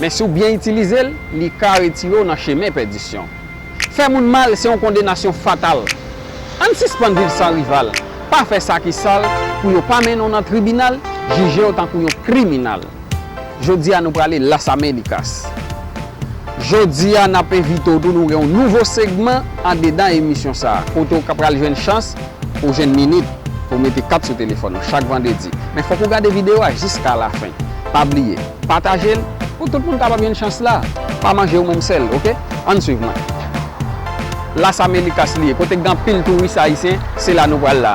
Men si w byen itilize l, li ka retire w nan chemen pèdisyon. Fè moun mal se yon kondenasyon fatal. Ann sispann viv san rival, pa fè sa ki sal pou yo pa mennen w nan tribinal, jije w tankou yon kriminal. Jodi a nou prale Las Américas. Jodi a n ap envite w tou nou gen yon nouvo segman andedan emisyon sa a, kote w ka pral jwenn chans pou w jwenn minit pou w mete kat sou telefòn ou chak vandredi. Men fòk ou gade videyo a jiska lafen. Pa bliye. Patajel pou tout moun kapab jwenn chans la. Pa manje ou menm sèl ok. Ann swiv mwen. Las Americas li ye kote gen anpil touris ayisyen se la nou pral la.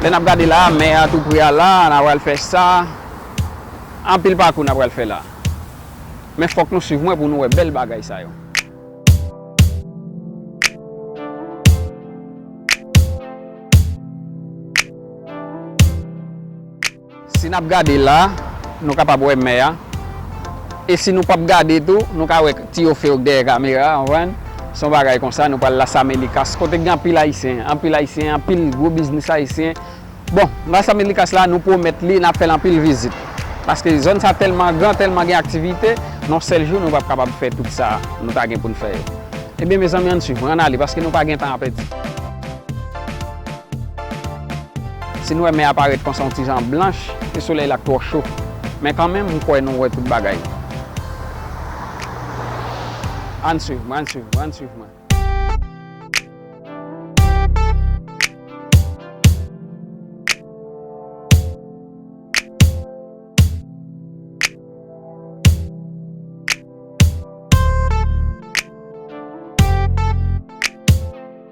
Lè nap gade la a mè a tou pre a la a na pral fè sa. Anpil pakou na pral fè la. Men fòk nou swiv mwen pou nou wè bèl bagay sa yo. Si nap gade la nou kapab wè mè a e si nou pap gade tou nou ka wè ti yo few dèyè kamera a konprann son bagay konsa nou pral las amelikas kote gen anpil ayisyen anpil ayisyen anpil gwo biznis ayisyen bon las amelikas la nou pwomèt li nap fèl anpil vizit paske zòn sa tèlman gran tèlman gen aktivite non sèl jou nou pap kapab fè tout sa nou ta gen poun fè yo ebyen mezanmi ann swiv mwen ann ale paske nou pa gen tan a pèdi. Si nou wè mè a parèt konsa yon ti jan blanch, se solèy la k twò cho. Men kanmenm, m kwè nou wè tout bagay. Ann swiv mwen, ann swiv mwen, ann swiv mwen.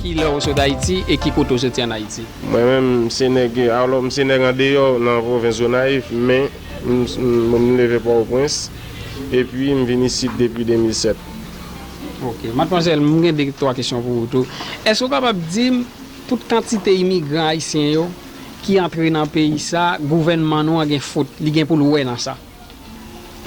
Ki lè ou sot Ayiti e ki kote ou soti an Ayiti? Mwen menm m se nèg alò m se nèg andeyò nan pwovens Gonayiv men m leve Pòtoprens. epi m vin isit depi 2007. Ok. Madmwazèl, m gen 2, 3 kesyon pou ou tou. Èske ou kapab di m, tout kantite imigran ayisyen yo ki antre nan peyi sa, gouvènman nou an gen fot, li gen pou l wè nan sa?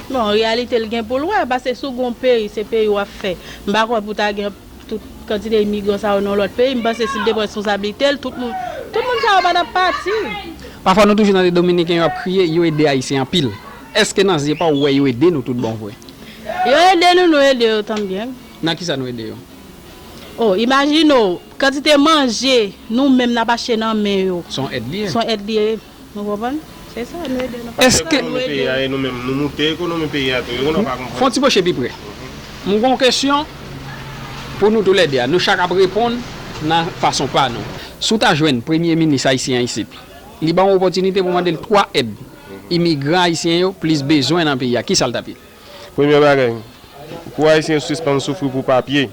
Bon, an reyalite l gen pou l wè, paske si w gen yon peyi, se peyi w ap fè. M pa kwè pou ta gen. Tout kantite imigran sa yo nan lòt peyi, m panse si l te pran responsablite l, tout moun, tout moun sa yo pa t ap pati. Pafwa nou toujou tande dominiken yo ap kriye, yo ede ayisyen anpil. Eske nan zye pa w wè yo ede nou tout bon vre? Yo ede nou, nou ede yo tanbyen. Nan kisa nou ede yo? O, imajine w, kantite manje nou menm n ap achte nan men yo. S on èd li ye. S on èd li ye. Nou konprann? Se sa, nou ede nou pa konprann, nou ede yo. Fè yon ti pwoche pi pre. M gen yon kesyon pou nou toulède a. Nou chak ap reponn nan fason pa nou. Si w ta jwenn premye minis ayisyen an isit, li ba w yon opòtinite pou w mande l twa èd imigran ayisyen yo plis bezwen nan peyi a, ki sa l t ap ye? Premye bagay, pou ayisyen yo sispann soufri pou papye.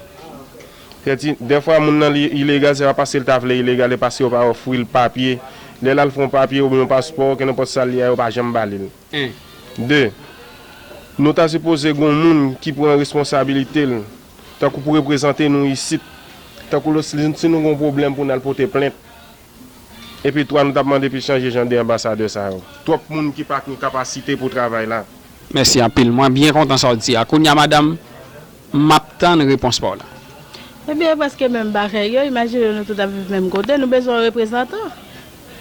Sèti, dèfwa moun nan li ilegal se pa paske li ta vle ilegal, e paske yo pa ofri l papye. Lè l al fè yon papye oubyen yon paspò, kenenpòt sa l ye a yo pa janm ba li l. 1, 2, Nou ta sipoze gen yon moun ki pran responsabilite l, tankou pou reprezante nou isit, tankou lè si nou gen yon pwoblèm pou n al pote plent, Epi 3 nou tap mande pi chanje jan de anbasadè sa yo. Twòp moun ki pa kny kapasite pou travay la. Mèsi anpil mwen byen kontan sa w di a kounya madam m ap tann repons pa w la. Ebyen e preske menm bagay yo imajine nou tout ap viv menm kote nou bezwen yon reprezantan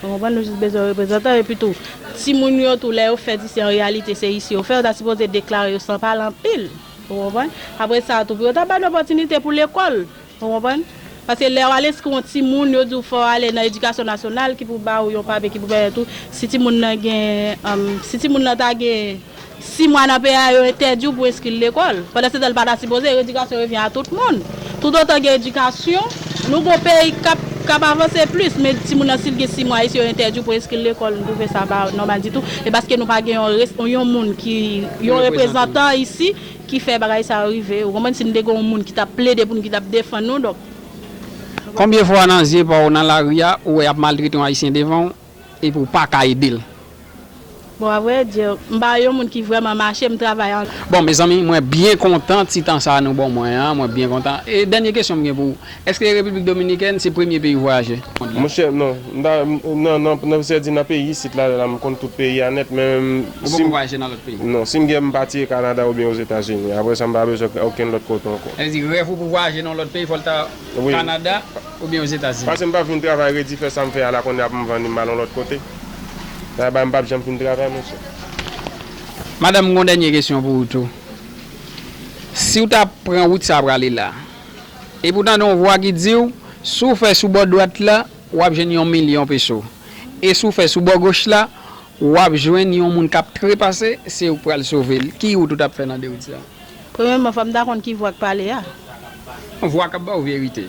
ou konprann nou jis bezwen yon reprezantan epi tou timoun yo tou lè yo fèt isi an reyalite se isi yo fè yo ta sipoze deklare yo san pale anpil ou konprann apresa tou pou yo ta ba nou opòtinite pou lekòl. Ou konprann? Paske lè ou al enskri yon timoun, yo di ou fò ale nan edikasyon nasyonal ki pou ba ou yon papye ki pou pèmèt ou, si timoun nan gen, si timoun nan ta gen 6 mwa nan peyi a, yo entèdi ou pou enskri l lekòl. Pandansetan li pa ta sipoze, edikasyon revyen a tout moun. Tout otan gen edikasyon, nou gon peyi k ap avanse plis. Men timoun nan si l gen 6 mwa isi, yo entèdi ou pou enskri l lekòl, m twouve sa pa nòmal ditou. E paske nou pa gen yon moun ki, yon reprezantan isi. Ki fè bagay sa yo rive, ou konprann, si nou te gen yon moun ki t ap plede pou nou, ki t ap defann nou, donk. Konbyen fwa nan zye pa w nan lari a, ou wè y ap maltrete yon Ayisyen devan w, epi w pa ka ede l? Bon, avwèdi, m pa yon moun ki vrèman mache, m travay an. Bon, mezanmi, mwen byen kontan ti tan sa a nou ban mwen an, mwen byen kontan. E dènye kesyon m gen pou. Eske Repiblik Dominikèn se premye peyi w vwayaje? Monchè non, m ta nan nan sèdi nan peyi isit la la m konn tout peyi a nèt men Ou poko vwayaje nan lòt peyi? Non, si m gen m pa ti e Kanada oubyen Ozetazini, aprè sa m pa bezwen okenn lòt kote ankò. Sa vle di rèv ou pou vwayaje nan yon lòt peyi fò l ta Kanada oubyen Ozetazini? Pase m pap vin travay redi fè sa m fè a la kounye a pou m vanni m al yon lòt kote, sa bay m pap janm fin travay monchè. Madanm m gon dènye kesyon pou ou tou, si w ta pran wout sa a prale la, Epi w tande yon vwa ki di w, si w fè sou bò dwat la, w ap jwenn yon milyon peso. E si w fè sou bò goch la, w ap jwenn yon moun k ap trepase, se ou k pral sove l. Ki wout ou t ap fè nan de wout sa yo? Premyèman, fò m ta konn ki vwa k pale a. Yon vwa k ap ba w verite.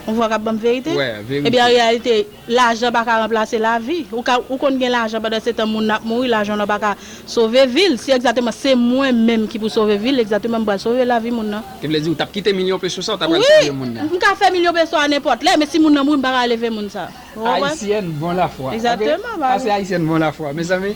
Yon vwa k ap ban m verite? Wè, verite. Ebyen, an reyalite. Lajan pa ka ranplase lavi. Ou ka ou konn gen lajan pandan se tan moun nan ap mouri lajan w nan pa ka sove vi l si egzateman se mwen menm ki pou sove vi l egzateman m pral sove lavi moun nan. Te vle di ou t ap kite milyon peso sa ou ta pral Wi! sove moun nan. M ka fè milyon peso a nenpòt lè men si moun nan mouri m pa ka leve moun sa. Ou konprann? Ayisyèn bon lafwa ok. Egzateman pa gen. Pase ayisyèn bon lafwa mezanmi.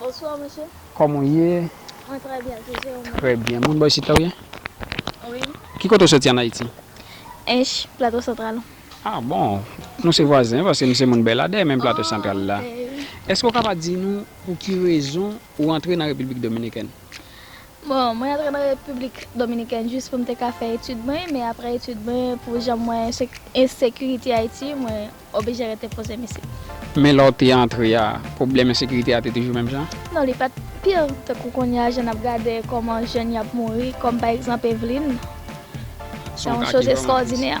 Bonsoir monsieur. Koman ou ye? Mwen trè byen tou se ou menm? Trè byen. Moun bò isit la ou ye? Wi. Ki kote ou soti an Ayiti? Ench, Plato Santral. Ah bon! Nou se vwazen paske m se moun Bèladè menm Plato Santral la. Ah ok. Eske ou ka pa di nou pou ki rezon ou antre nan Repiblik Dominikèn? Bon, mwen antre nan Repiblik Dominikèn jis pou m te ka fè etid mwen men aprè etid mwen pou jan m wè ensekirite Ayiti mwen. Oblije rete poze mesye. Men lè w te antre a, pwoblèm ensekirite a te toujou menm jan? Non li pa t pi tankou kounye a jan n ap gade kòman jèn y ap mouri kòm pa egzanp Evlin. Se yon choz estwòdinè.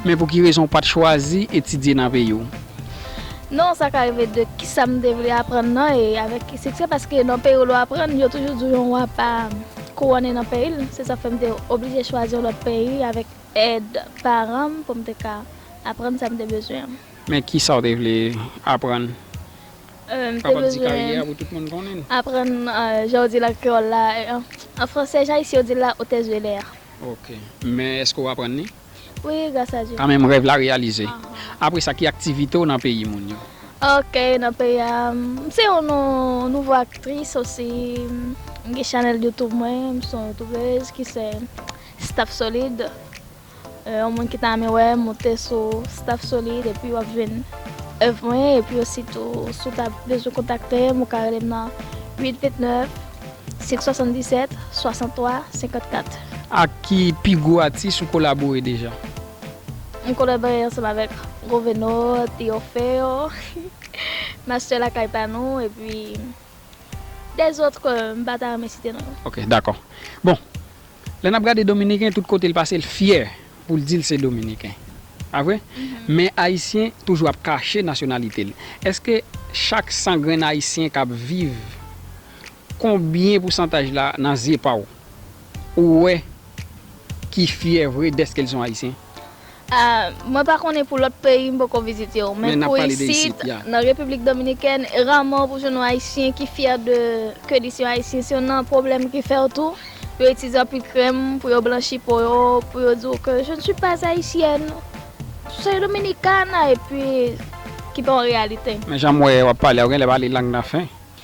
Men pou ki rezon w pa t chwazi etidye nan peyi w? Non sa ka rive de kisa m te vle aprann nan e avèk ki siksè paske nan peyi w lè w aprann yo toujou di w yon wa pa kouwone nan peyi l se sa k fè m te oblije chwazi yon lòt peyi avèk Èd paran m pou m te ka aprann sa m te bezwen. Men ki sa w te vle aprann? M te bezwen aprann jan yo di l an kreyòl la, an fransè, jan ayisyen yo di l la, otèz de lè a. Ok. Men èske w aprann li? Wi, gras a Dye. Kanmenm rèv la reyalize. Apre sa, ki aktivite w nan peyi moun yo? Ok, nan peyi a, m se yon nouvo aktris osi. M gen chanèl Youtube mwen, m se yon youtubèz ki se Staff solid, yon moun ki ta renmen wè m monte sou Staff solid epi wap jwenn èv mwen epi osi tou si w ta bezwen kontakte m ou ka rele m nan 8 29 577 63 54. Ak ki pi gwo atis ou kolabore deja? M kolabore ansanm avèk Goveno, Theo Feo, Master Lakay pa nou epi des autres ke m pa ta renmen site non yo. Ok dakò. Bon Lè n ap gade dominiken tout kote l pase l fyè pou l di l se dominiken pa vre men ayisyen toujou ap kache nasyonalite l èske chak 100 grenn ayisyen k ap viv konbyen pousantaj la nan zye pa w ou wè ki fyè vre dèske l son ayisyen? Mwen pa konnen pou lòt peyi m poko vizite yo men pou isit nan repiblik dominikèn e raman pou jwenn yon ayisyen ki fyè de ke li se yon ayisyen se yon nan pwoblèm ki fè w tou yo itilize anpil krèm pou yo blanchi po yo pou yo di w ke je ne suis pas haïtienne je suis dominicana epi ki pa yon reyalite. Men jan m wè wap pale a ou genlè pale lang nan fen.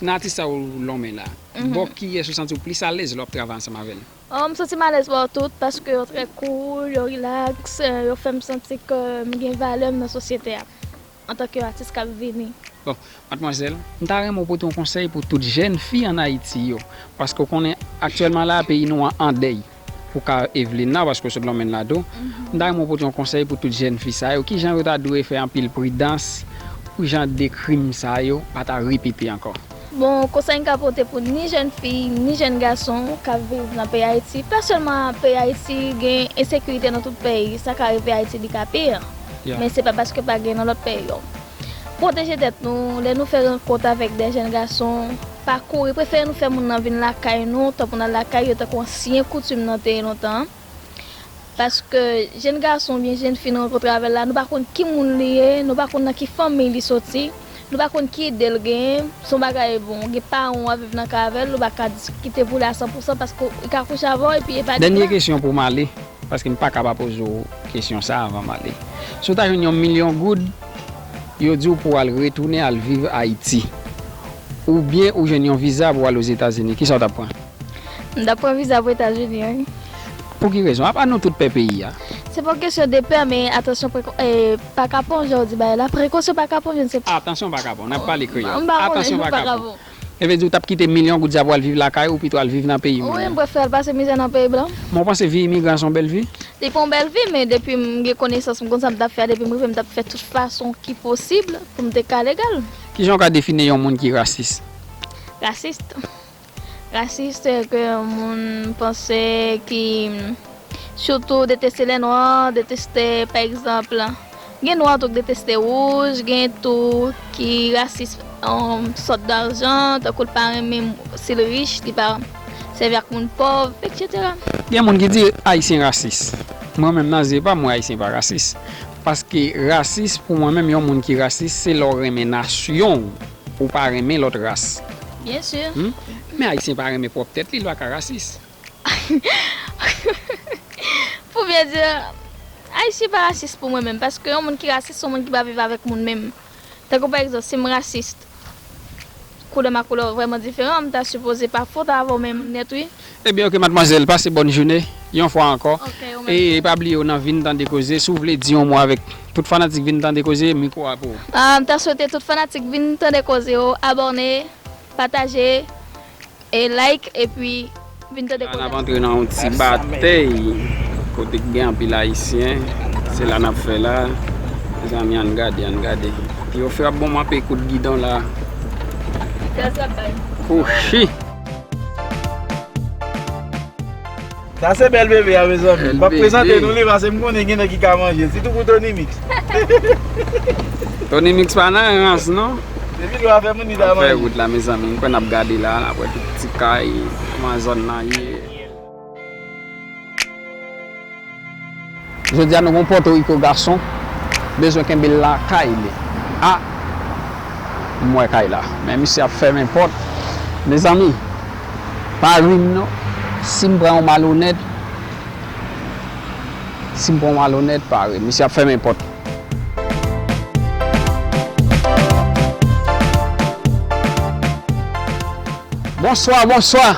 Nan atis sa ou lonmen la, bò kiyès ou santi ou plis alèz lè w ap travay ansanm avè l? M santi m alèz bò tout, paske yo trè koul, yo rilaks, yo fè m santi ke m gen valè m nan sosyete a, antanke yon atis k ap vini. Bon, madmwazèl, m ta renmen w pote yon konsèy pou tout jèn fi an Ayiti yo, paske ou konnen aktyèlman la a peyi nou an andèy. Pou ka Evelina paske w sot lonmen la tou, m ta renmen w pote yon konsèy pou tout jèn fi sa yo, kijan yo ta dwe fè anpil pridans pou jan de krim sa yo pa ta repete ankò. Bon konsèy m ka pote pou ni jèn fi, ni jèn gason k ap viv nan peyi Ayiti, pa sèlman peyi Ayiti, gen ensekirite nan tout peyi, sa ka rive Ayiti li ka pi, men se pa paske pa gen nan lòt peyi yo. Pwoteje tèt nou, lè nou fè rankont avèk de jèn gason. Pa kouri, prefere nou fè moun nan vin lakay nou tan pou n al lakay yo tankou ansyen koutim nan te ye lontan an. Paske jenn gason oubyen jenn fi nou rankontre avè l la, nou pa konn ki moun li ye, nou pa konn nan ki fanmiy li soti, nou pa konn ki ide l genyen, se yon bagay bon, ou gen paran w wap viv nan kay avè l, ou pa ka diskite pou li a san pou san paske li ka kouche avè w epi e pa li ki Dènye la. kesyon pou m ale, paske m pa ka pa poze w kesyon sa avan m ale. Si w ta jwenn yon milyon goud, Yo di w pou w al retounen al viv Ayiti. Oubyen ou jwenn yon viza pou w al Ozetazini. Kisa w t ap pran? M t ap pran viza pou Etazini wi. Pou ki rezon? Apa nou tout pè peyi a? Se pa yon kesyon de pè men atansyon prekon e pa kapon jan w di bagay la. Prekosyon pa kapon je ne se. Atansyon pa kapon. N ap pale kreyòl. M pa konnen. Atansyon pa kapon. Sa vle di ou tap kite milyon goud sa pou al viv lakay ou pito al viv nan peyi moun. Wi m prefèl pase mizè nan peyi blan. Men w panse vi imigran se yon bèl vi? Li pa yon bèl vi men depi m gen konesans m konn sa m tap fè a depi m rive m tap fè tout fason ki posib pou m te ka legal. Kijan w ka define yon moun ki rasis? Rasist? Rasist se ke yon moun panse ki. Surtout deteste les noirs, deteste par exemple gen noir tou ki deteste rouge, gen tou ki rasis yon sort d'argent tankou li pa renmen si li riche li pa sèvi ak moun pòv etc. Gen moun ki di ayisyen rasis. Mwen menm nan zye pa mwen ayisyen pa rasis. Paske rasis pou mwen menm yon moun ki rasis se lè w renmen nasyon w ou pa renmen lòt ras. Bien sûr. Men ayisyen pa renmen pwòp tèt li li pa ka rasis. Pou byen di, Ayisyen pa rasis pou mwen menm. Paske yon moun ki rasis se yon moun ki pa viv avèk moun menm. Tankou pa egzanp, si m rasis, koulè m ak koulè w vrèman diferan, m ta sipoze pa fout avè w menm nèt wi. Ebyen ok madmwazèl, pase bòn joune yon fwa ankò. E pa bliye w nan Vin Tande Koze, si w vle di yon mo avèk tout fanatik Vin Tande Koze, mikwo a pou ou. M ta swete tout fanatik Vin Tande Koze yo abòne, pataje, E like epi vin tande koze. La nap antre nan yon ti batey kote ki gen anpil ayisyen se la nap fè la mezanmi ann gade ann gade yo frap bon manpe kout gidon la kouchi. Sa se bèl bebe a mezanmi. M pap prezante nou li pase m konnen gen nèg ki ka manjel. Sitou pou Tonymix. Tonymix pa nan rans non. Depi lwa fè moun li ta manje. Nap fè wout la mezanmi. M kwè nap gade la. Nap wè tout ti kay. Kouman zòn nan ye. Jodi a nou gen yon Pòtoriko gason bezwen kenbe l lakay li a m wè kay la men misye ap fèmen pòt mezanmi pa ri m non si m pran yon malonèt si m pran yon malonèt pa ri m misye ap fèmen pòt. Bonswa bonswa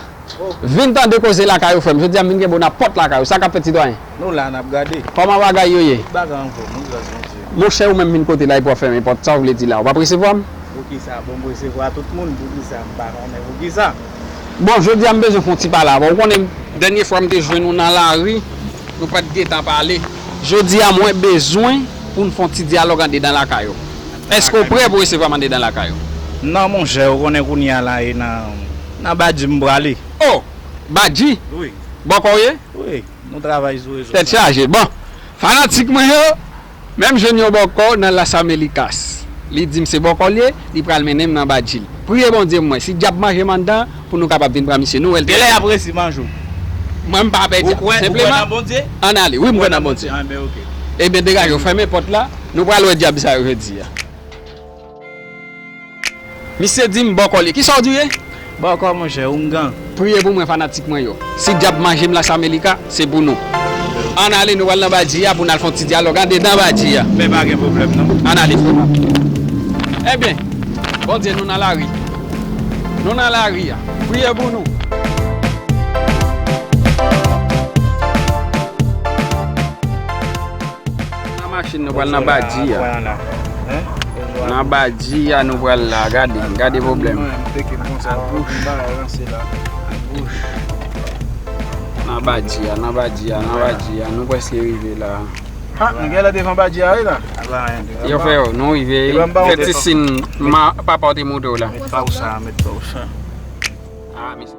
vin tande koze lakay ou frè m jodi a m vin kenbe w nan pòt lakay ou sa k ap fèt sitwayen? Nou la nap gade. Koman bagay yo ye? Tout bagay an fom wi gras Bondye. Monchè ou menm vin kote la epi wap fèmen pòt sa ou vle di la ou pap resevwa m? Poukisa pou m resevwa tout moun poukisa m pa konnen poukisa. Bon jodi a m bezwen fon ti pale avè w konnen dènye fwa m te jwenn ou nan lari nou pat gentan pale jodi a mwen bezwen pou n fon ti dyalòg andedan lakay ou èske ou prè pou resevwa m andedan lakay ou? Non monchè ou konnen kounye a la e nan nan badji m prale. Oh! Badji? Wi. Bòkò w ye? Wi. Nou travay sou rezo sa. Tèt chaje bon fanatik mwen yo menm jwenn yon bòkò nan las amelicas li dim se bòkò l ye li pral mennenm nan badji l priye bondye pou mwen si dyab manjem anndan pou nou kapab vin pran misye nou wèl trè Genlè yap resi manje w Mwen m pa pè dyab Ou kwè senpleman nan Bondye? ann ale wi m kwè nan Bondye Enben ok. Ebyen degaje w fèmen pòt la nou pral wè dyab sa yo jodi a. Misye dim bòkò li. Kisaw di ou ye? Bòkò monchè, oungan. Priye pou mwen fanatik mwen yo. Si dyab manjem las amelika se pou nou. Ann ale nou pral nan badji a pou nal fon ti dyalòg andedan badji a. Men pa gen pwoblèm non. Ann ale frè pam. Ebyen Bondye nou nan lari. Nou nan lari a. Priye pou nou. Nan machin nou pral nan badi ya. Nan badi ya nou pral la. Gade, gade problem. A gouch. Nan badi ya, nan badi ya, nan badi ya. Nou preske rive la. Ha, nou gen la devan badi ya la. Yo fè yo, nou rive. Fè ti sin ma papa ou te moute ou la. Met pa ou sa, met pa ou sa. Ha, mi sa.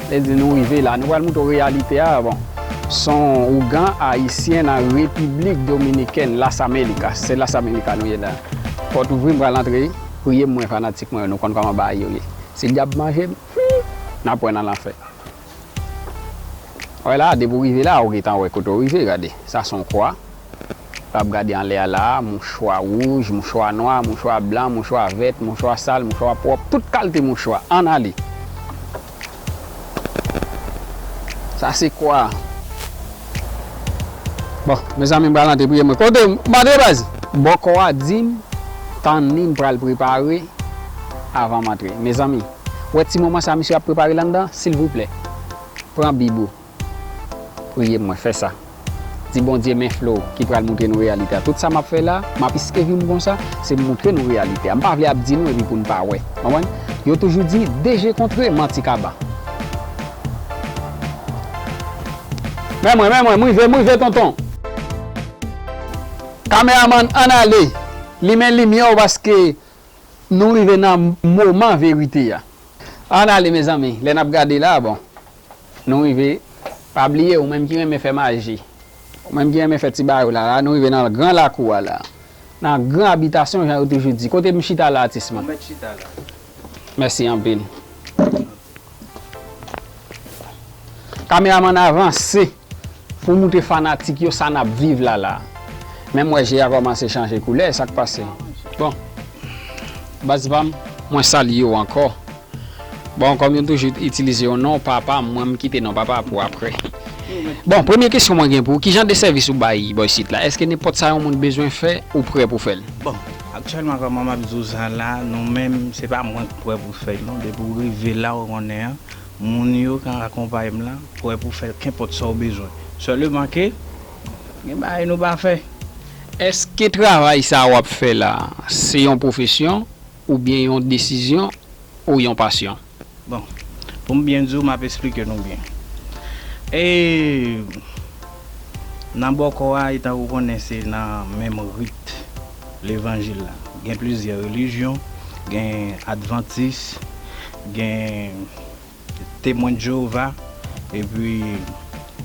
Lèdi nou rive la, nou pral moute w reyalite a bon son ougan ayisyen nan Repiblik Dominikèn, Las Américas, se Las Américas nou ye la. Pòt ouvri m pral antre, priye m mwen fanatik mwen yo nou konn kòman bagay yo ye. Si dyab manje m, humm, nap wè nan lanfè. Wè la, depi w rive la ou gentan wè kote w rive, gade, sa son kwa. Pap gade anlè a la a, mouchwa wouj, mouchwa nwa, mouchwa blan, mouchwa vèt, mouchwa sal, mouchwa pwòp, tout kalte mouchwa. Ann ale! Sa se kwa a. Bon, mezanmi m pral antre priye mwen. Kote ou? M antre baz! Bòkò a di m tanni m pral prepare avan m antre. Mezanmi, wè ti moman sa misye ap prepare landan? Silvouplè, pran bib ou. Priye mwen fè sa. Di Bondye men Flo ki pral moutre nou reyalite a. Tout sa map fè la, map iskevi m konsa, se moutre nou reyalite a. M pa vle ap di nou epi pou n pa wè. Konprann? Yo toujou di, de je kontre, manti kaba. Men mwen, men mwen, m rive, m rive tonton. Kameramann ann ale, limen limyè w paske nou rive nan moman verite a. Ann ale mezanmi, lè nap gade la bon. Nou rive, pa bliye ou menm ki renmen fè maji, ou menm ki renmen fè ti bagay ou la, la nou rive nan gran lakou a la, nan gran abitasyon jan yo toujou di. Kote m chita la atis mwen? Ou mèt chita la. Mèsi anpil. Kameramann avanse. Pou moutre fanatik yo sa nap viv la la. Menm wè je a kòmanse chanje koulè sak pase bon baz pam mwen salyew ankò bon kòm yon toujou itilize yon non papa mwen m kite non papa pou aprè bon premye kesyon mwen gen pou ou kijan de sèvis ou bay bò isit la eske nenpòt sa yon moun bezwen fè ou prè pou fèl. Bon aktyèlman kòman map di w sa la non menm se pa mwen k prè pou fèl non depi w rive la ou konnen an Moun yo kan akonpaye m lan, pwè pou fè kenpòt sa w bezwen. Sèleman ke, gen bagay nou pa fè. Èske travay sa w ap fè la, se yon pwofesyon, oubyen yon desizyon, ou yon pasyon? Bon, pou m byen di w, m ap esplike nou byen. E, nan bòkò a, etan ou konnen se nan menm rit. Levanjil la. Gen plizyè relijyon, gen advantis, gen temwen Jewova, epi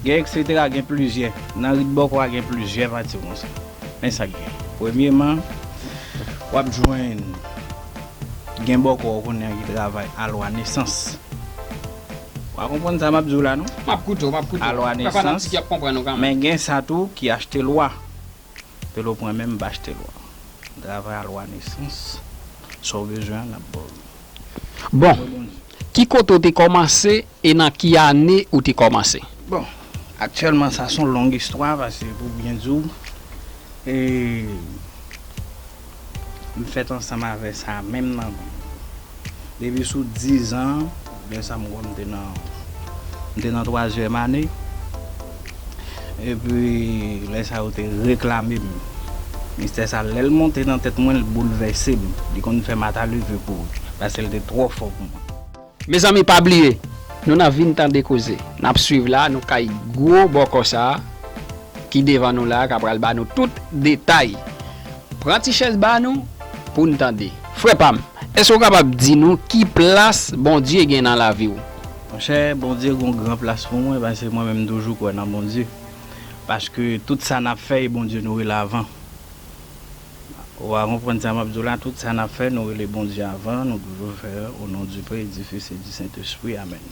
gen eksetera, gen plizyè. Nan rit bòkò a gen plizyè pati konsa. Men sa k gen. Premyeman, w ap jwenn gen bòkò kounye a ki travay alwa nesans. Wa konprann sa m ap di w la non. M ap koute w, m ap koute w. Alwa nesans, men gen sa tou ki achte lwa. Pelo pwen menm bach te lwa. Travay a lwa nesans. Sa w bezwen an nap baw li. Bon, ki kote ou te kòmanse e nan ki ane ou te kòmanse? Bon, aktyèlman sa son long istwa pase pou byen di w e. M fèt ansanm avè sa menm nan menm. Depi sou dizan, lè sa m kwè m te nan m te nan twazyèm ane. Epi lè sa yo te reklame m. Mistè sa lè l monte nan tèt mwen l boulvèse m. Li konn fè m ata leve kouri. Pase l te twò fò pou mwen. Mezanmi pa bliye Nou nan vin tande koze nap swiv la nou kay gwo bòkò sa ki devan nou la ka pral ba nou tout detay pran ti chèz ba nou poun tande. Frè pam, èske ou kapab di nou ki plas Bondye gen nan lavi ou? Monchè, Bondye gen yon gran plas pou mwen paske mwen menm m toujou kwè nan Bondye. Paske tout sa nap fè e Bondye nou rele avan. Wa konprann sa map diw la tout sa nap fè nou rele Bondye avan nou toujou fè o non du pè e du fis e du sentespri amèn.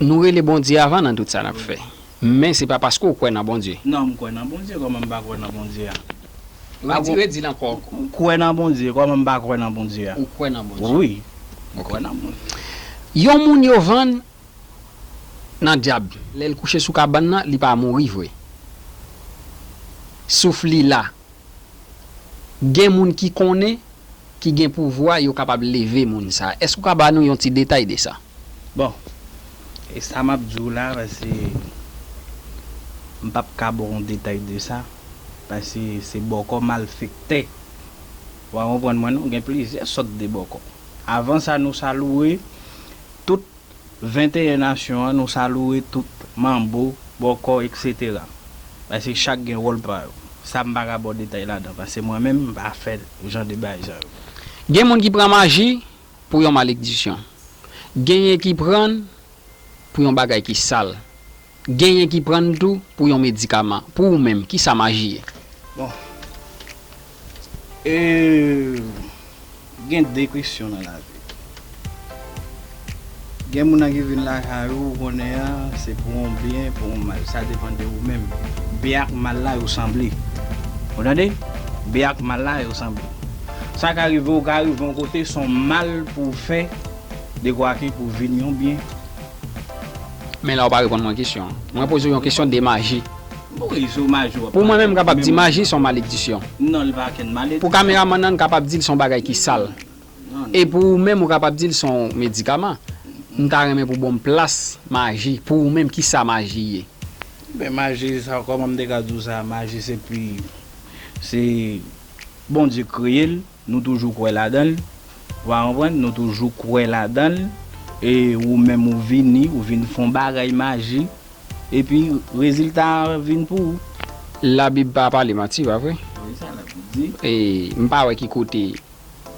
Nou rele Bondye avan nan tout sa nap fè men se pa paske ou kwè nan Bondye. Non m kwè nan Bondye kòman m pa kwè nan Bondye a. Redi l ankò. Ou kwè nan Bondye kòman m pa kwè nan Bondye a. Ou kwè nan Bondye. Wi m kwè nan Bondye. Yon moun yo vann nan dyab lèl kouche sou kabann nan li pa mouri vre souf li la gen moun ki konnen ki gen pouvwa yo kapab leve moun sa èske ou ka ba nou yon ti detay de sa. Bon e sa map diw la pase m pap ka baw yon detay de sa pase se bòkò malfektè wa konprann mwen non gen plizyè sòt de bòkò avan sa nou salouwe Tout 21 nasyon an nou saloue tout manbo, bòkò etc. Paske chak gen wòl pa yo. Sa m pa ka ba w detay ladan paske mwen menm m pa fè jan de bagay sa yo. Gen moun ki pran maji pou yon malekdisyon. Genyen ki pran l pou yon bagay ki sal. Genyen ki pran l tou pou yon medikaman. Pou ou menm, kisa maji ye? Bon. E gen de kesyon nan lavi. Gen moun nan ki vin lakay ou, ou konnen an, se pou yon byen, pou yon mal. Sa depan de ou menm. Byen ak mal la yo sanble. Ou tande? Byen ak mal la yo sanble. Sa ka rive ou ka rive yon kote son mal pou ou fè dekwa ke pou vin yon byen. Men la ou pa reponn mwen kesyon an. Mwen poze ou yon kesyon de maji. Bon rezo maji wap pale. Pou mwen menm m kapab di maji son maledisyon. Non li pa ken maledisyon. Pou kameraman nan kapab di l son bagay ki sal. E pou ou menm ou kapab di l son medikaman. M ta renmen pou bonm plas maji. Pou ou menm ki sa maji ye? Ben maji sa koman m te ka di w sa maji se pi se Bondye kreye l. Nou toujou kwè ladanl. Ou a konprann? Nou toujou kwè ladanl. E ou menm ou vini, ou vin fon bagay maji. Epi rezilta a vin pou ou. La bib pa pale manti pa vre? Wi sa la bib di. E m pa wè ki kote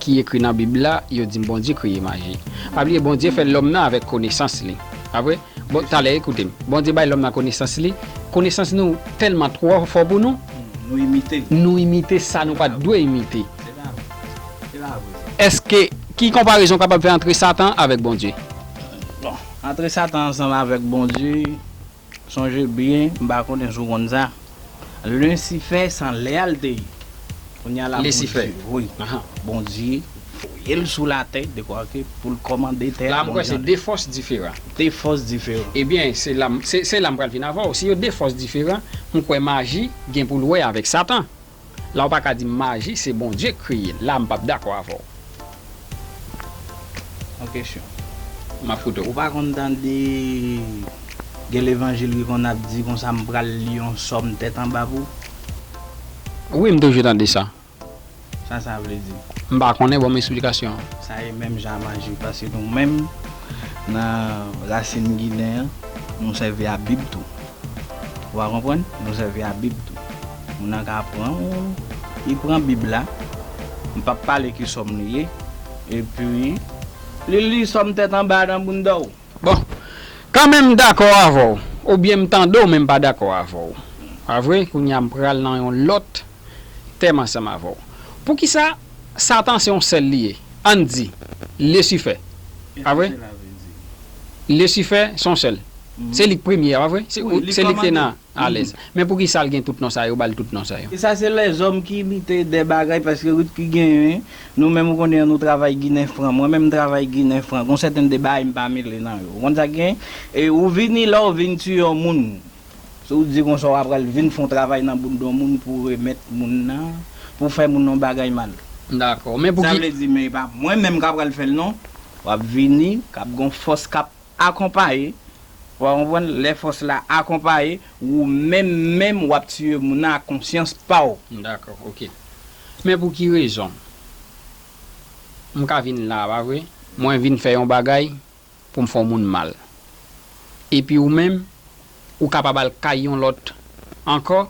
ki ekri nan bib la yo di Bondye kreye maji. Pa bliye Bondye fè lòm nan avèk konesans li. Pa vre? Bon talè ekoute m. Bondye bay lòm nan konesans li. Konesans nou tèlman twò fò pou nou. Nou imite. Nou imite sa nou pa t dwe imite. Se pa vre sa. Se pa vre sa. Èske ki konparezon w kapab fè antre Satan avèk Bondye? Bon, antre Satan ansanm avèk Bondye, sonje byen, m pa konnen si w konn sa, Lusifè san lè a l te ye. Kounya la Bondye, wi, Bondye Voye l sou latè, dekwa ke pou l kòmande tè a bon jan. La m kwè se de fòs diferan. De fòs diferan. Ebyen, se la m, se la m pral vin avè w. Si yo de fòs diferan, m kwè maji gen pou l wè avèk Satan. La w pa ka di m maji se Bondye k kreye l. La m p ap dakò avè w. Yon kesyon. M ap koute w. Ou pa konn tande gen levanjil ki konn ap di konsa m pral li yon sòm tèt anba pou w? Wi m toujou tande sa. Sa sa vle di? M pa konnen, banm esplikasyon an. Sa e menm jan a maji paske nou menm nan rasin ginen an nou sèvi a bib tou. Ou a konprann? Nou sèvi a bib tou. Moun nan ka pran ou, li pran bib la, m pap pale ki sòm li ye, epi li li sòm tèt anba nan bounda w. Bon, kan menm m dakò avè w, oubyen m tande w men m pa dakò avè w. Pa vre? Kounye a m pral nan yon lòt tèm ansanm avè w. Poukisa Satan se yon sèl li ye? Ann di, Lesifè. Pa vre? Lesifè se yon sèl. Se li k premye a, pa vre? Se li k te nan alèz. Men poukisa l gen tout non sa yo, yo ba l tout non sa yo? Sa se lèzòm ki lite de bagay paske rit ki genyen. Nou menm ou konnen an nou travay ginen fran. Mwen menm m travay ginen fran. Gon sèten de bagay m pa mele nan yo. Ou konn sa k genyen? E ou vini la ou vin tiye yon moun. Si w di konsa w apral vin fon travay nan bout don moun pou remèt moun nan, pou fè moun yon bagay mal. M dakò. Men pouki. Sa vle di men e pa mwen menm k apral fè l non. W ap vini, k ap gen yon fòs k ap akonpaye. Ou a konprann? Lè fòs la akonpaye, ou menm menm w ap tiye moun nan ak konsyans pa w. M dakò. Oke. Men pou ki rezon m ka vin la a pa vre? Mwen vin fè yon bagay. pou m fè yon moun mal. Epi ou menm, ou kapab al kay yon lòt ankò,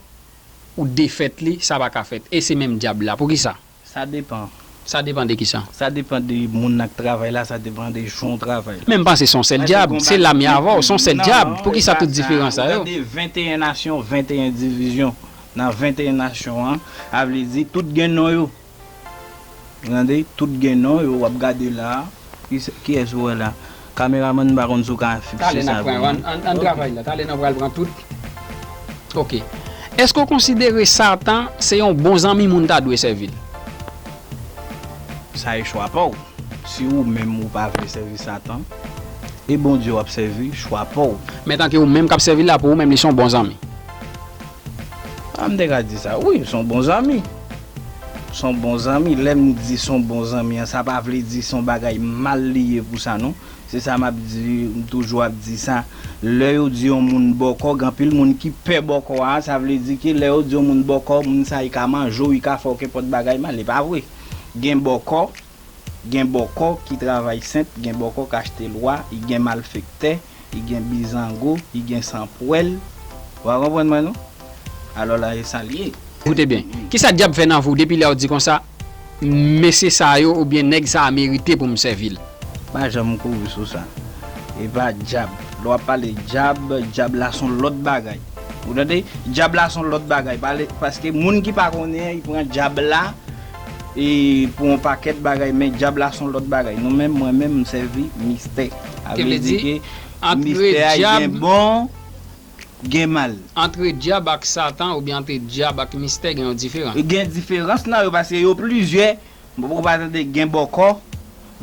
ou defèt li, sa pa ka fèt. E se menm Dyab la. Poukisa? Sa depan. Sa depan de kisa? Sa depan de moun nan k travay la, sa depan de jan w travay la. Men m panse se yon sèl Dyab. Se la m ye avè w. Se yon sèl Dyab. Poukisa tout diferans sa yo? Ou tande 21 nasyon, 21 divizyon. Nan 21 nasyon an, sa vle di tout gen non yo. Gade tout gen non yo wap gade la. Kiyes ou wè la? Kameramann m pa konn si w ka fikse sa pou mwen. Talè n ap pran yo an travay la talè n ap pral pran tout ok èske w konsidere satan se yon bon zanmi moun ta dwe sèvi l? Sa e chwa pa w si ou menm ou pa vle sèvi satan e Bondye w ap sèvi chwa pa w. Men tanke ou menm k ap sèvi l la pou ou menm li son bon zanmi? Ah m te ka di sa wi, son bon zanmi. Son bon zanmi, lè m di son bon zanmi an sa pa vle di son bagay mal li ye pou sa non. Se sa m ap di, m toujou ap di sa, lè yo di yon moun bòkò, gen anpil moun ki pè bòkò a, sa vle di ke lè yo di yon moun bòkò, moun sa li ka manje w, li ka fè w kenpòt bagay mal, e pa vre. Gen bòkò, gen bòkò ki travay senp, gen bòkò ki achte lwa, gen malfektè, li gen bizango, li gen san pwèl. Ou pa konprann mwen non. Alò la e sa l ye. Koute byen. Ki sa dyab fè nan vou depi lè w di konsa, Mesye sa yo oubyen nèg sa a merite pou m sèvi l? M pa janm kouri sou sa. E pa dyab. Lè w ap pale dyab, dyab la s on lòt bagay. Ou tande? Dyab la s on lòt bagay. Pale, paske moun ki pa konnen, li pran dyab la. E pou yon pakèt bagay men dyab la son lòt bagay nou menm mwen menm m sèvi mistè a vle di ke mistè a gen bon gen mal. Antre dyab ak satan oubyen antre dyab ak mistè gen yon diferan? Gen diferans nan yo paske yo plizyè ou pa tande gen bòkò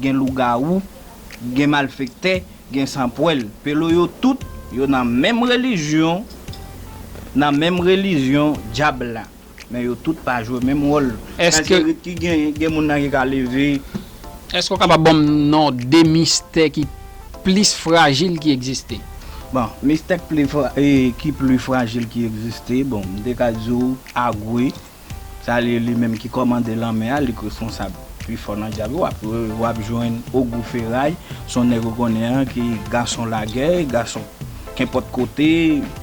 gen lougawou gen malfektè gen sanpwèl pelo yo tout yo nan menm relijyon nan menm relijyon dyab la. Men yo tout pa jwe menm wòl. Èske. Majorite ki genyen, gen moun nan ki ka leve. Èske ou kapab ban m non 2 mistè ki plis frajil ki egziste? Bon, mistè ki plis frajil ki egziste, bon, m te ka di ou Agwe, sa li li menm ki kòmande lanmè a, li k responsab pi fò nan dyab yo. Wap wap jwenn Ogou Feray, s on nèg ou konnen an ki gason lagè, gason kenpòt kote,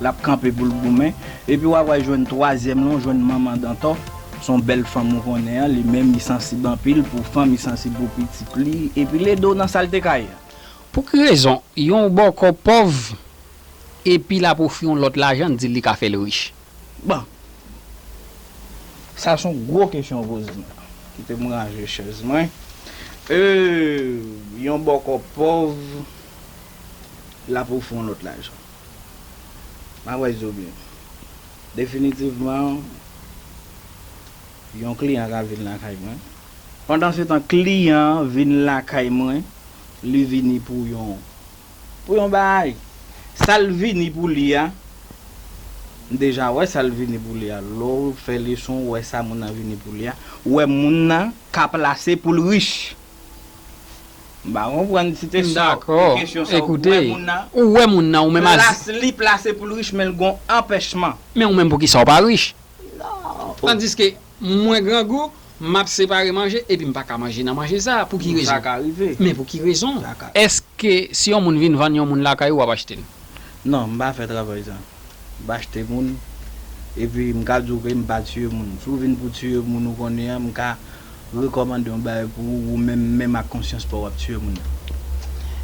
l ap kanpe pou l goumen. Epi wap wè jwenn twazyèm lan ou jwenn manman dantò son bèl fanm ou konnen an li menm li sansib anpil pou fanm li sansib pou pitit li epi l ede w nan salte kay. Pou ki rezon yon w bòkò pòv epi lap ofri yon lòt lajan l di l li ka fè l rich. Bon sa son gwo kesyon ou poze m la. Kite m ranje chèz mwen. Euhh yon bòkò pòv lap ofri yon lòt lajan. Map wè zo byen. Definitivman yon kliyan ka vin lakay mwen. Pandan se tan kliyan an vin lakay mwen li vini pou yon pou yon bagay. Sal vini pou li a m deja wè sal vini pou li a. Lè w fè leson ou wè sa moun nan vini pou li a ou wè moun nan ka plase poul rich. M pa konprann si te sa ou kesyon sa ou wè moun nan. Ou wè moun nan ou menm aze. Plas li plase poul rich menl gon anpèchman. Men ou menm poukisa ou pa rich. Tandiske mwen grangou map separe manje epi m paka manje nan manje sa pou ki rezon. Sa ka rive. Men pou ki rezon. Eske si yon moun vin vann yon moun lakay ou wap achtel. Non m pa fè travay sa. M pa achte moun. Epi m ka di w ke m pa tiye moun. Si w vin pou tiye moun ou konnen an, m ka rekòmande yon bagay pou ou, ou menm, menm ak konsyans pa w ap tiye moun nan.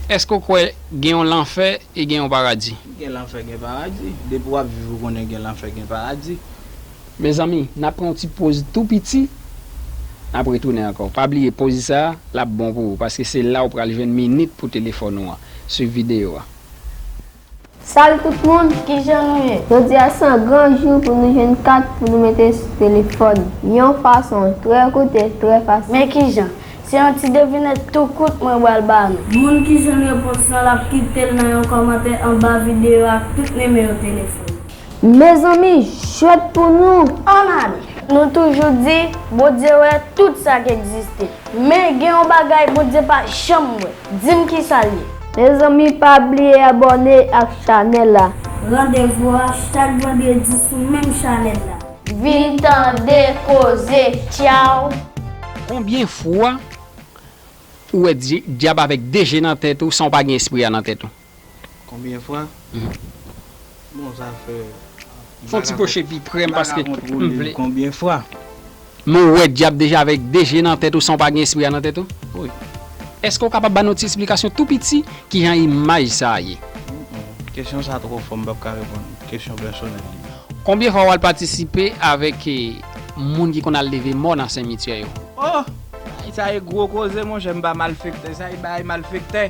Èske w kwè gen yon lanfè e gen yon paradi? Gen lanfè, gen paradi. Depi w ap viv ou konnen gen lanfè, gen paradi. Mezanmi, n ap pran yon ti poz tou piti, n ap retounen ankò. Pa bliye, poz sa a, l ap bon pou ou, paske se la ou pral jwenn minit pou telefòn ou an. Swiv videyo a. Salut tout moun kijan nou ye jodi a se yon gran jou pou nou jwenn kat pou nou mete sou telefòn yon fason trè kout e trè fasil. Men kijan, se yon ti devinèt tou kout mwen bal ba nou. Moun ki jwenn repons lan lap kitel nan yon kòmantè anba video a ak tout nimewo telefòn. Mezanmi jwèt pou nou! An Mali, nou toujou di Bondye wè tout sa k egziste. Men gen yon bagay Bondye pa janm wè. Di m kisa l ye? Mezanmi pa bliye abòne ak chanèl la. Randevou a chak vandredi sou menm chanèl la. Vin tande koze tchyaw. Konbyen fwa ou wè dyab avèk 2 je nan tèt ou san ou pa gen espri a nan tèt ou? Konbyen fwa? Bon sa fè. Fon ti pwoche pi prem paske m vle. Konbyen fwa? Men w wè dyab deja avèk 2 je nan tèt ou san w pa gen espri a nan tèt ou? Wi. Eske w kapab ba nou ti esplikasyon tou piti kijan imaj sa a ye? Kesyon sa twò fò m pap ka reponn ou. Kesyon pèsonèl li. Konbyen fwa w al patisipe avèk moun ki konn al leve mò nan senmityè yo? Oh! Bagay sa e gwo koze monchè m pa malfektè sa e bagay malfektè.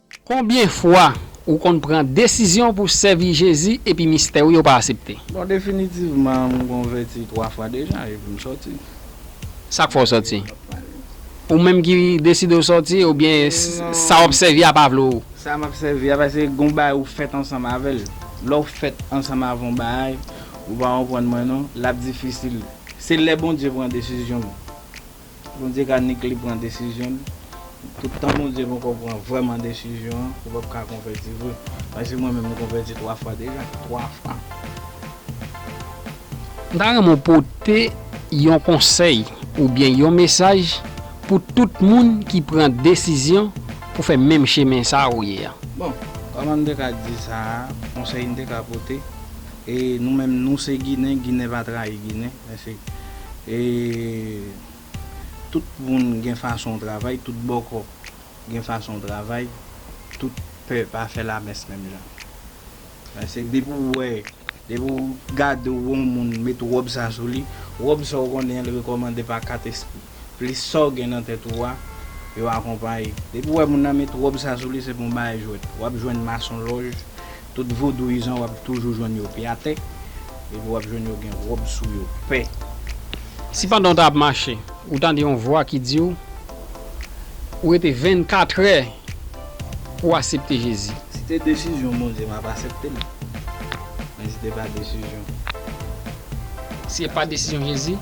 Konbyen fwa ou konn pran desizyon pou sèvi Jezi epi mistè ou yo pa asepte? Bon definitivman m konvèti 3 fwa deja epi m sòti. Sak fè w sòti? Ou menm ki deside w sòti oubyen sa w ap sèvi a pa vle w? Sa m ap sèvi a pase gon bagay ou fèt ansanm avè l. Lè w fèt ansanm avè yon bagay ou pa konprann mwen non, l ap difisil. Se lè Bondye pran desizyon. Bondye ka nik li pran desizyon l tout tan Bondye poko pran vrèman desizyon an ou pap ka konvèti vre paske mwen menm m konvèti 3 fwa deja 3 fwa. M ta renmen w pote yon konsèy oubyen yon mesaj pou tout moun ki pran desizyon pou fè menm chemen sa ou ye an. Bon kòman m te ka di sa a konsèy m te ka pote e nou menm nou se ginen ginen pa trayi ginen. Mèsi. E tout moun gen fason w travay, tout bòkò gen fason w travay, tout pè pa fè lamès menm jan. Mèsi. Depi w wè, depi w gade w wè yon moun met wòb sa sou li, wòb sa w konnen an li rekòmande pa kat espri. Plis sa w gen nan tèt ou a, yo akonpaye. Depi w wè moun nan met wòb sa sou li se pou yon bagay jwèt. W ap jwenn masonlòj, tout vodouyizan w ap toujou jwenn yo pye atè. Epi w ap jwenn yo gen wòb sou yo pè. Si pandan w ta ap mache, ou tande yon vwa ki di w, ou rete 24 è pou w asepte Jezi. Si te desizyon Bondye m ap asepte l. Men si te pa desizyon. Si e pa desizyon Jezi.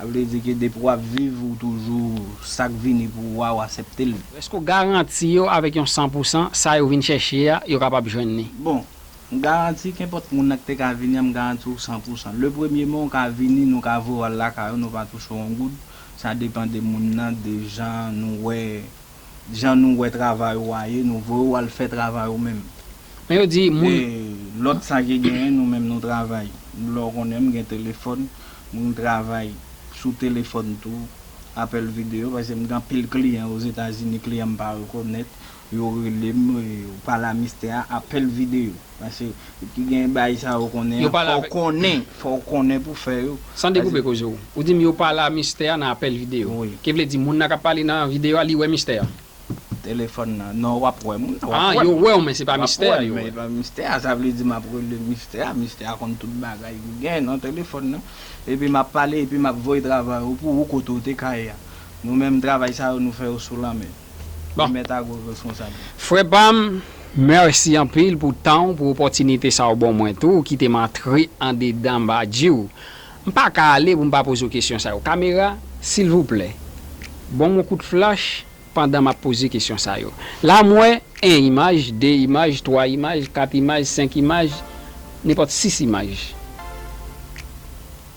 Sa vle di ke depi wap viv ou toujou sak vini pou ou a ou asepte l. Eske w garanti yo avèk yon san pou san sa yo vin chèche a yo kapab jwenn li? Bon, m garanti kenpòt moun nan ki te ka vini an m garanti w san pou san. Le premye men ou ka vini nou ka voye w al lakay ou nou pa touche w yon goud, sa depan de moun nan de jan nou wè jan nou wè travay ou a ye nou voye w al fè travay ou menm Men yo di moun. E lòt sa ki genyen nou menm nou travay lè w konnen m gen telefòn m travay sou telefòn tou apèl videyo paske m gen anpil kliyan ozetazini kliyan m pa rekonèt yo rele m pale a mistè a apèl videyo. Pase depi gen baay sa yo konnen an fow konnen fow konnen pou fè yo. San dekoupe koze w, ou di m yo pale a mistè a nan apèl videyo. Ki vle di moun nan kap pale nan videyo a li wè mistè a? Telefòn nan, non wap wè moun nan. Ah yo wè w men se pa mistè a yo wè. Wap wè m men se pa mistè a, sa vle di map rele mistè a, mistè a konn tout bagay ki gen nan telefòn nan. Epi map pale epi map voye travay ou pou ou kote ou te ka ye a. Nou menm travay sa yo nou fè yo sou lanmè. Bon. Li mèt agro responsab. Frè pam, mèsi anpil pou tan w, pou opòtinite sa w ban mwen tou, ou kite m antre andedan bgy w. M pa ka ale pou m pa poze w kesyon sa yo. Kamera, silvouplè, ban m yon kout flach pandan m ap poze kesyon sa yo. La m wè 1 imaj, 2 imaj, 3 imaj, 4 imaj, 5 imaj, nenpòt 6 imaj.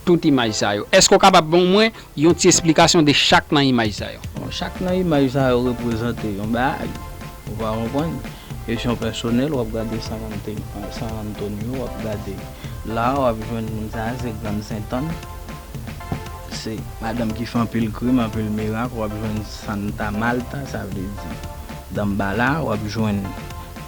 Tout imaj sa yo. Èske w kapab ban mwen yon ti esplikasyon de chak nan imaj sa yo? Bon, chak nan imaj sa yo reprezante yon bagay. Ou va konprann. Kesyon pèsonèl, w ap gade San Antonio, w ap gade la, w ap jwenn moun sa a se Grann Sentann. Se madanm ki fè anpil krim, anpil mirak, w ap jwenn Santa Malta, sa vle di Danmbala, w ap jwenn.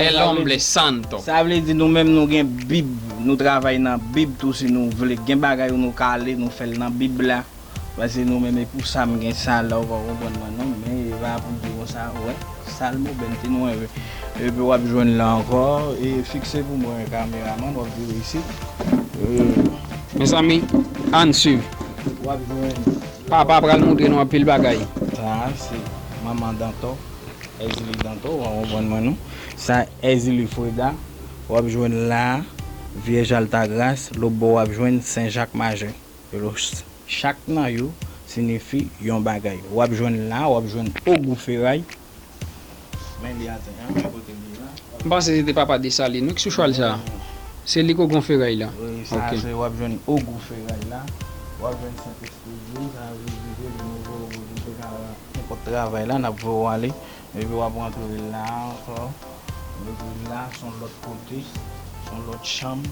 El hombre santo. Sa vle di nou menm nou gen bib nou travay nan bib tou si nou vle gen bagay ou nou ka ale nou fèl nan bib la pase nou menm epou sa m gen sa la ou pa konprann mwen non men eva ap di konsa wè salmo bèn ti nou enve epi wap jwenn la ankò e fikse pou mwen kameraman wap vire isit ee. Mezanmi ann swiv. Wap jwenn. Papa pral moutre nou anpil bagay. Sa se manman dantò. Èzili Dantò wa konprann mwen non. Sa Èzili Freda wap jwenn la a, Vyèj Altagras, lòt bò wap jwenn Sen Jak Majè. Yo lo ch. Chak nan yo sinifi yon bagay. Wap jwenn la a, wap jwenn Ogou Feray. Men li atè a, men kote li ye la. M panse se te papa Desalin wi ki sou chwal sa a. Se li ki Ogon Feray la. Wi, sa a se wap jwenn Ogou Feray la. Wap jwenn Sentespri di w, sa vle di ke li move Ogou di w te ka. Nou pot travay la nap voye w ale epi wap rantre la ankò epi la son lòt kote son lòt chanm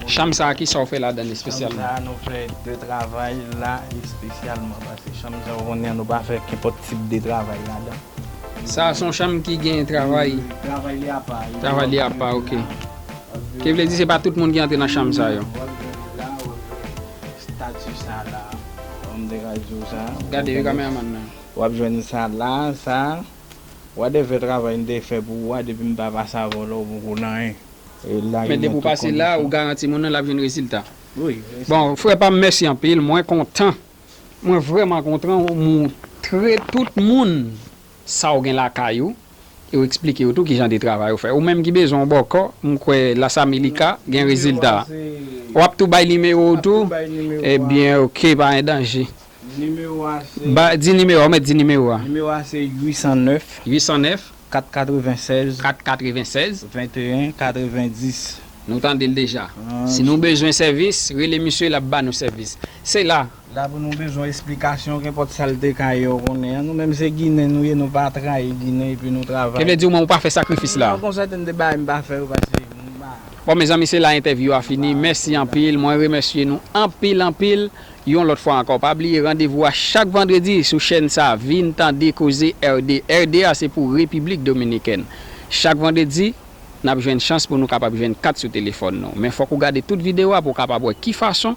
Chanm sa kisa ou fè ladann espesyalman? Chanm sa nou fè de travay la espesyalman paske chanm sa ou konnen an nou pa fè kenpòt tip de travay ladan. Sa a son chanm ki gen travay? Travay li apa. Travay li apa ok. Ki vle di se pa tout moun ki antre nan chanm sa yo. Statut sa la Humm de radio sa. Gade wi cameraman nan. Wap jwenn sa la sa. Whatever travay m te fè pou ou a depi m pa pase avè w la ou poko nan anyen. Men depi w pase la ou garanti moun nan lap jwenn rezilta. Bon frè pam mèsi anpil mwen kontan mwen vrèman kontran ou moutre tout moun sa w gen lakay ou e w eksplike yo tou kijan de travay ou fè. Ou menm ki bezwen yon bòkò, m kwè Las Amelica gen rezilta. W ap tou bay nimewo w tou? Ebyen ok, pa gen danje. Nimewo a se. Ba, di nimewo a, ou mèt di nimewo a. Nimewo a se 809. 809. 496. 496. 21 90. Nou tande l deja. Si nou bezwen sèvis, rele misye l ap ba nou sèvis. Se la. La pou nou bezwen esplikasyon kenpòt sa l te ka ye ou konnen an. Nou menm se ginen nou ye nou pa trayi ginen epi nou travay. Te vle di ou menm ou pa fè sakrifis la. Non konsète m te bay m pa fè yo paske m pa. Bon mezanmi se la entèvyou a fini mèsi anpil mwen remèsye nou anpil anpil yon lòt fwa ankò pa bliye randevou a chak vandredi sou chèn sa vin tande koze RD RD a se pou repiblik dominikèn chak vandredi nap jwenn chans pou nou kapab jwenn kat sou telefòn nou men fòk ou gade tout video a pou w kapab wè ki fason